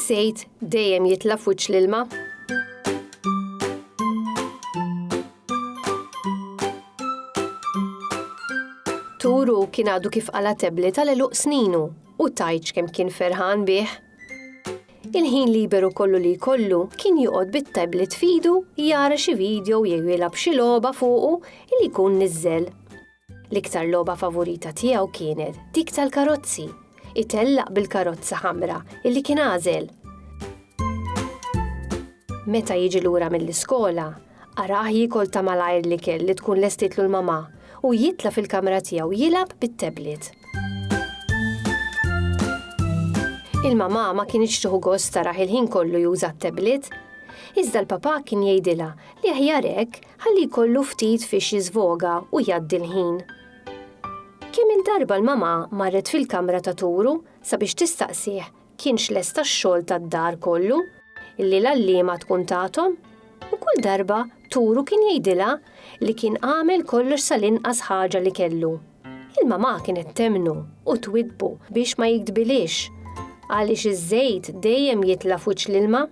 Iż-żejt dejjem jitla' f'wiċċ l-ilma. Turu kien għadu kif qala tebli tal-eluq sninu u tajċ kemm kien ferħan bih. Il-ħin liberu kollu li jkollu kien joqgħod bit-tablet f'idu jara xi video jew jilgħab xi logħba fuqu li jkun niżżel. L-iktar logħba favorita tiegħu kienet dik tal-karozzi, itellaq bil-karozza ħamra illi kien għażel. Meta jiġi lura mill-iskola, Arah jiekol ta' malajr l-ikel li tkun lestietlu l-mamà u jitla' fil-kamra tiegħu jilgħab bit-tablet. Il-mamà ma kinitx tieħu gost tarah il-ħin kollu juża t-tablet, iżda l-papà kien jgħidilha li aħjar hekk ħalli jkollu ftit fiex jiżvoga u jgħaddi l-ħin. Kemm-il darba l-mamà marret fil-kamra ta' Turu sabiex tistaqsih kienx lesta x-xogħol tad-dar kollu li l-għalliema tkun tathom u kull darba turu kien jgħidilha li kien għamel kollox sal-inqas ħaġa li kellu. Il-mamà kienet temmnu u twiddbu biex ma jigdbilhiex għaliex iż-żejt dejjem jitla' f'wiċċ l-ilma.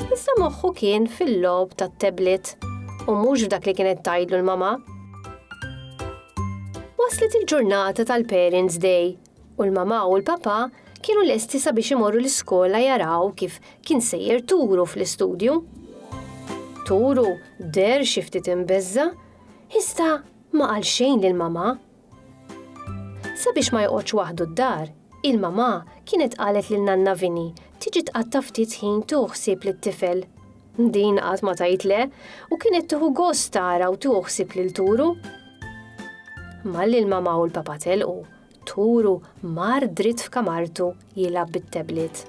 Issa moħħu kien fil-logħob tat-tablet u mhux f'dak li kienet tgħidlu l-mamà. Waslet il-ġurnata tal-Parents Day u l-mamà u l-papà kienu lesti sabiex imorru l-iskola jaraw kif kien sejjer Turu fl-istudju. Turu der xi ftit imbeżża, iżda ma qal xejn lill-mamà. Sabiex ma joqgħodx waħdu d-dar, il-mamà kienet qalet lil Nanna Vini tiġi tqatta' ftit ħin tieħu ħsieb lit-tifel. Din qatt ma tgħid le u kienet tieħu gost tara u tieħu ħsieb lil Turu. Malli l-mamà u l-papà telqu, turu mar dritt f'kamartu jilgħab bit-tablet.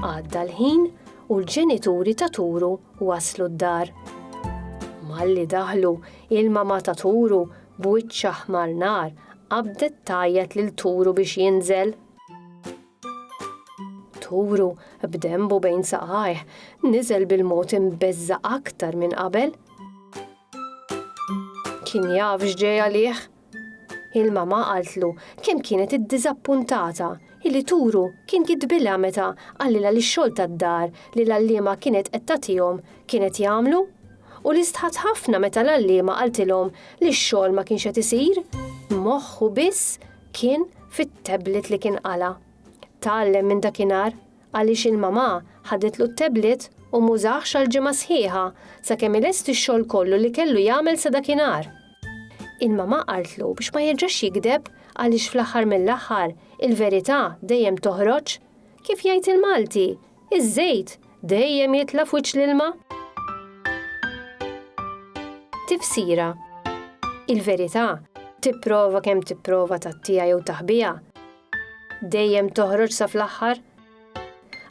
Għadda l-ħin u l-ġenituri ta' turu waslu d-dar. Malli daħlu, il-mama ta' turu b'wiċċ aħmar nar qabdet tgħajjat lil turu biex jinżel. Turu, b'denbu bejn saqajh, niżel bil-mod imbeżża' aktar minn qabel. Kien jaf x'ġej għalih. Il-mama qaltlu kemm kienet iddiżappuntata illi turu kien jitbilha meta qallilha li x-xogħol tad-dar li l-għalliema kienet qed tagħtihom kienet jagħmlu u li stħat ħafna meta l-għalliema qaltilhom li x-xogħol ma kienx qed isir, moħħu biss kien fit-tablet li kien qala'. Tgħallem minn dakinhar għaliex il-mamà ħadetlu t-tablet u m'użahx għal ġimgħa sħiħa sakemm ilesti x-xogħol kollu li kellu jagħmel sa dakinhar. Il-mamà qaltlu biex ma jerġax jigdeb għaliex fl-aħħar mill-aħħar il-verità dejjem toħroġ, kif jgħid il-Malti, iż-żejt dejjem jitla' f'wiċċ l-ilma. Tifsira, Il-verità, tipprova kemm tipprova tgħattiha jew taħbiha, dejjem toħroġ sa fl-aħħar.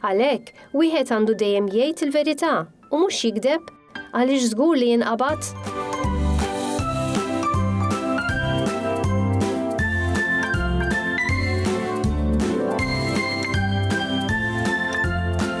Għalhekk, wieħed għandu dejjem jgħid il-verità u mhux jigdeb għaliex żgur li jinqabad.